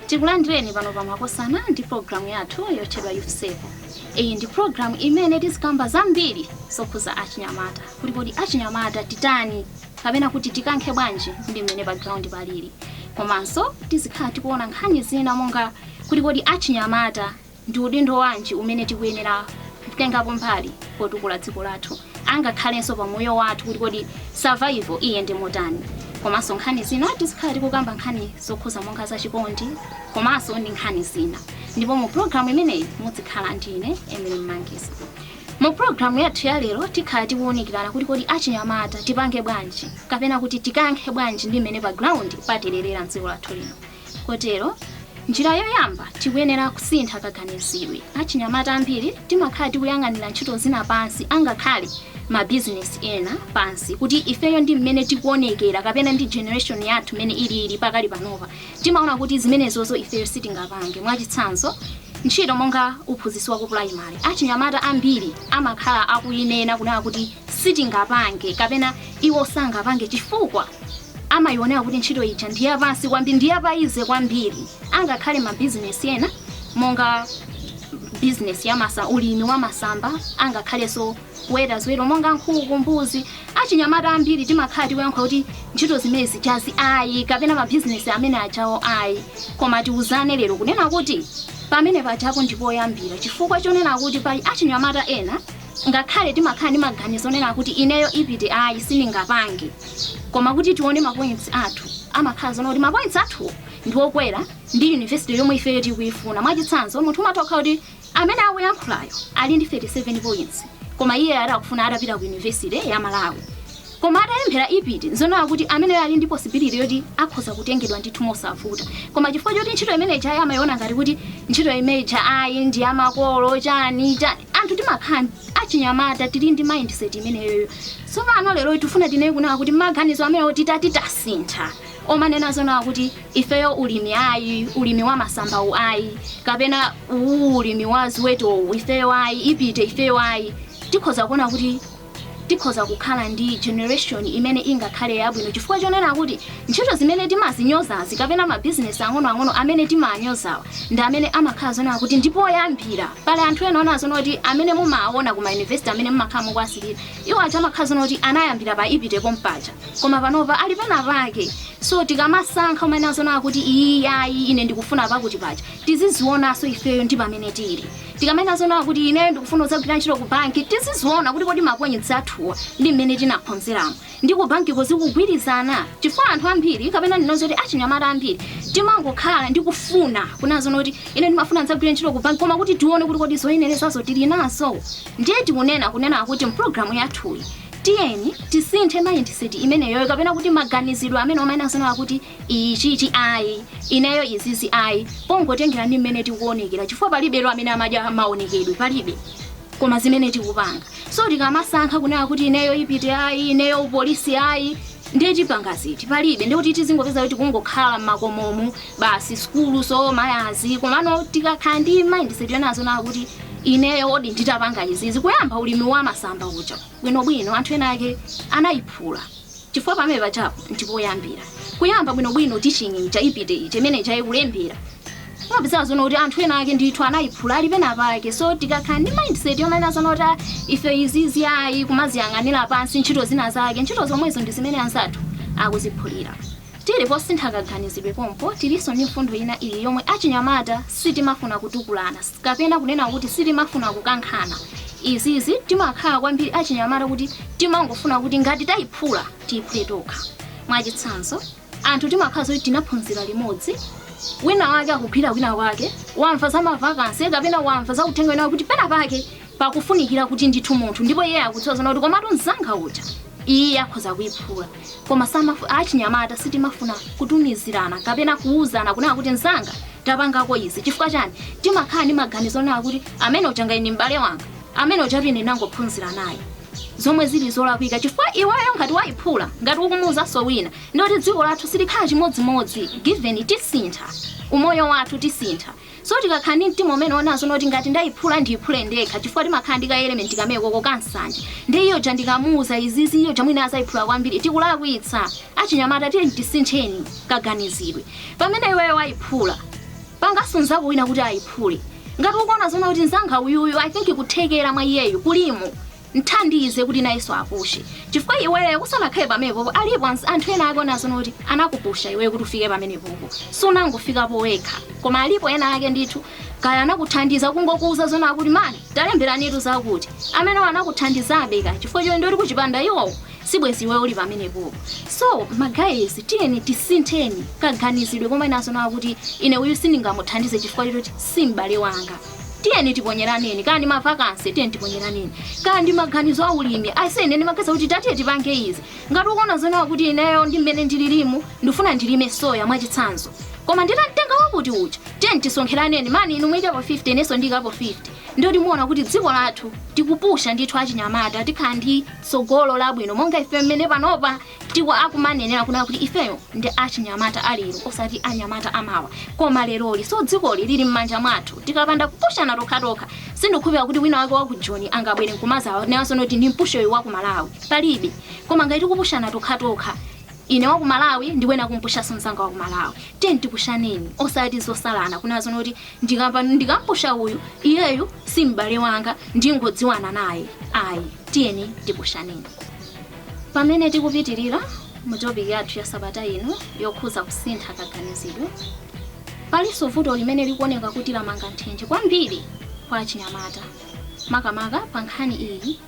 tikulandireni pano pa makosana ndi programu yathu yotchedwa youth save iyi ndi programu imene tizikamba zambiri zokhuza achinyamata kuti kodi achinyamata titani kapena kuti tikankhe bwanji ndi mmene pa ground palili komanso tizikhala tikuona nkhani zina monga kuti kodi achinyamata Ndi udindo wanji umene tikuyenera kutengapo mbali potukula dziko lathu angakhalenso pa moyo wathu kuti kodi survival iyende motani? Komanso nkhani zina tizikhala tikukamba nkhani zokhuza monga za chikondi komanso ndi nkhani zina. Ndipo mu program imeneyi mudzikhala ndi ine Emily Mmangisa. Mu program yathu ya lero tikhala tikuwunikirana kuti kodi achinyamata tipange bwanji kapena kuti tikankhe bwanji ndi mmene pa ground patererera mdziko lathu lino. Kotero, njira yoyamba tikuyenera kusintha kaganizidwe. Achinyamata ambiri timakhala tikuyang'anira ntchito zina pansi angakhale ma business ena pansi kuti ifeyo ndi mmene tikuonekera kapena ndi generation yathu mmene ilili pakali panopa timaona kuti zimenezozo ifeyo sitingapange mwachitsanzo ntchito monga uphunzitsi wa ku primary achinyamata ambiri amakhala akuyinena kunena kuti sitingapange kapena iwo sangapange chifukwa amayionera kuti ntchito ija ndi yapansi kwambiri ndi ya pa easy kwambiri angakhale mabizinesi ena monga bizinesi ya masa ulimi wa masamba angakhalenso kuweta ziweto monga nkhuku mbuzi achinyamata ambiri timakhala tikuyankha kuti ntchito zimene zijazi ayi kapena mabizinesi amene ajawo ayi koma tiuzane lero kunena kuti pamene pajapo ndi poyambira chifukwa chonena kuti pali achinyamata ena ngakhale timakhala ndi maganizo onena kuti ineyo ipte ayi sindingapange koma kuti tione mapoints athu amakhala zoona kuti mapoints athu ndi okwera ndi university yomwe ifeyo tikuifuna mwachitsanzo munthu umatha kukhala kuti amene akuyankhulayo ali ndi 37 points koma iye ati akufuna atapita ku university ya malawi koma atayemphera ipte nzonena kuti ameneyo ali ndi possibility yoti akhoza kutengedwa ndithu mosavuta koma chifukwa choti ntchito imene ijayi amayiona ngati kuti ntchito imeneyi ayi ndi ya makolo chani chani anthu timakhala achinyamata tili ndi mindset imeneyoyo tsopano lero tifuna tinene kunena kuti maganizo amenewo titati tasintha omanena zonena kuti ifeyo ulimi ayi ulimi wa masambawu ayi kapena uwu ulimi wa ziwetowu ifeyo ayi ipte ifeyo ayi tikhoza kuona kuti tikhoza kukhala ndi generation imene ingakhale yabwino chifukwa chonena kuti ntchito zimene timazinyozazi kapena mabizinesi ang'onoang'ono amene timaanyozawa ndi amene amakhala zonena kuti ndi poyambira pali anthu ena ona zoona kuti amene mumaona ku mayunivesiti amene mumakhala mukuwasilira iwo aja amakhala zoona kuti anayambira pa ipte pompaja koma panopa ali pena pake so tikamasankha umanena zonena kuti iyi ayi ine ndikufuna pakuti paja tizizionanso ifeyo ndi pamene tili Tikamanena zoona kuti ineyo ndikufuna kudzagwira ntchito ku banki, tiziziona kuti kodi mapointsi athuwa ndi mmene tinaphunziramo ndi ku bankiko zikugwirizana? Chifukwa anthu ambiri kapena ndinene zoti achinyamata ambiri timangokhala ndi kufuna kunena zoona kuti ine ndimafuna ndidzagwire ntchito ku banki koma kuti tione kuti kodi zoyenerezazo tili nazo. Ndiye tikunena kunena kuti m'pulogalamu yathuyi tiyeni tisinthe mindset imeneyoyo kapena kuti maganizidwe amene omanena zoona kuti ichichi ayi ineyo izizi ayi pongotengera ndi mmene tikuonekera chifukwa palibe amene amadya maonekedwe palibe koma zimene tikupanga so tikamasankha kunena kuti ineyo IPTE ayi ineyo upolisi ayi ndiye tipanga ziti palibe ndiye kuti tizingopezeka tikungokhala mmakomomu basi si cool so magayizi komano tikakhala ndi mindset yonena zoona kuti ineyo kodi nditapanga izizi kuyamba ulimi wa masamba uja bwinobwino anthu ena ake anayiphula chifukwa pamene pajapo ndi poyambira kuyamba bwinobwino teaching ija IPTE ija imene ija ikulembera umapeza zoona kuti anthu ena ake ndithu anayiphula ali pena pake so tikakhala ndi mindset yonena zoona kuti ah, ife izizi ayi kumaziyang'anira pansi ntchito zina zake ntchito zomwezo ndi zimene anzathu akuziphulira Tili posintha kaganizidwe pompo, tilinso ndi mfundo ina iyi yomwe achinyamata sitimafuna kutukulana kapena kunena kuti sitimafuna kukankhana. Izizi timakhala kwambiri achinyamata kuti timangofuna kuti ngati tayiphula tiyiphule tokha. Mwachitsanzo, anthu timakhala zoti tinaphunzira limodzi, wina wake akugwira kwina kwake, wamva za ma vacancy kapena wamva za uthenga wina wake kuti pena pake pakufunikira kuti ndithu munthu ndipo iye akudziwa zoona kuti komatu mzanga uja iye akhoza kuyiphula koma samafu- achinyamata sitimafuna kutumizirana kapena kuwuzana kunena kuti mzanga tapangako izi chifukwa chani timakhala ndi maganizo onena kuti amene uja ngati ndi m'bale wanga amene ujatu ine ndinangophunzira naye zomwe zili zolakwika chifukwa iweyo ngati wayiphula ngati ukumuwuzanso wina ndiye kuti dziko lathu silikhala chimodzimodzi given tisintha umoyo wathu tisintha So tikakhala ndi mtima umene wonena zoona kuti ngati ndaiphula ndiiphule ndekha chifukwa timakhala ndi ka element kamekoko ka nsanje ndiye iye uja ndikamuuza izizi iye uja mwina adzaiphula kwambiri tikulakwitsa achinyamata tiyeni tisintheni kaganizidwe pamene iweyo waiphula panganso mnzako wina kuti aiphule ngati ukuona zoona kuti mnzanga uyuyu I think kuthekera mwa iyeyu kulimo mthandize kuti nayenso apushe chifukwa iweyo usanakhale pamenepopo alipo ans- anthu ena ake onena zoona kuti anakupusha iweyo kuti ufike pamenepopo sunangofikapo wekha koma alipo ena ake ndithu kaya anakuthandiza kungokuuza zoona kuti mani talemberanitu zakuti amene anakuthandizabe ka chifukwa choncho ndiye kuti kuchipanda iwowo sibwezi iweyo uli pamenepopo so magayizi tiyeni tisintheni kaganizidwe komanena zoona kuti ine uyu sindingamuthandize chifukwa choti si m'bale wanga tiyeni tiponyeraneni kaya ndi mavakansi tiyeni tiponyeraneni kaya ndi maganizo a ulimi aise ine ndimaganiza kuti tatiye tipange izi ngati ukuona zonena kuti ineyo ndi mmene ndililimu ndifuna ndilime soya mwachitsanzo koma nditamtenga wakuti uja tiyeni tisonkheraneni mani inu muikapo 50 inenso ndiikapo 50 ndiye kuti muona kuti dziko lathu tikupusha ndithu achinyamata tikhala ndi tsogolo labwino monga ife mmene panopa tiwa akumanenera kunena kuti ifeyo ndi achinyamata a lero osati anyamata amawa koma leroli so dzikoli lili m'manja mwathu tikapanda kupushana tokhatokha sindikukhulupirira kuti wina wake wa ku joni angabwere nkumazawa nayenso noti ndimpushe uyu wa ku malawi palibe koma ngati tikupushana tokhatokha ine wa ku malawi ndi wina kumpushanso mzanga wa ku malawi tiye tipushaneni osati zosalana kunena zonoti ndikapa- ndikampusha uyu iyeyu si m'bale wanga ndingodziwana naye ayi tiyeni tipushaneni Pamene tikupitilira mu topic yathu ya sabata ino yokhuza kusintha kaganizidwe, palinso vuto limene likuoneka kuti lamanga nthenje kwambiri kwa achinyamata makamaka pa nkhani iyi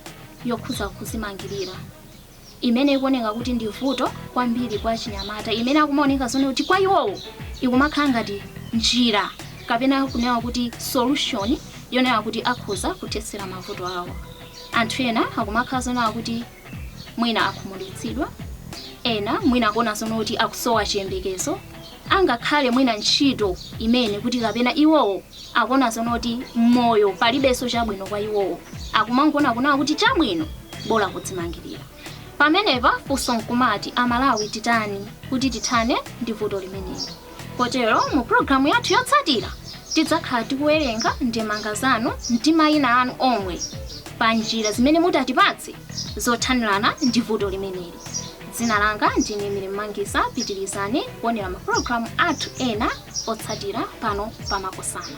yokhuza kuzimangilira imene ikuoneka kuti ndi vuto kwambiri kwa achinyamata imene akumaoneka zonena kuti kwa iwowo ikumakhala ngati njira kapena kunena kuti solution yonena kuti akhoza kuthetsera mavuto awo. Anthu ena akumakhala zonena kuti mwina akhumudwitsidwa, ena mwina akuona zono kuti akusowa chiyembekezo, angakhale mwina ntchito imene kuti kapena iwowo akuona zono kuti moyo palibenso chabwino kwa iwowo, akumangona kunena kuti chabwino bola kudzimangirira. Pamenepa funso nkumati Amalawi titani kuti tithane ndi vuto limeneli? Kotero mu pulogalamu yathu yotsatira tidzakhala tikuwerenga ndemanga zanu ndi mayina anu omwe pa njira zimene mutatipatse zothanirana ndi vuto limeneli. Dzina langa ndine Emily Mmangisa. Pitirizani kuonera mapulogalamu athu ena otsatira pano pa Makosana.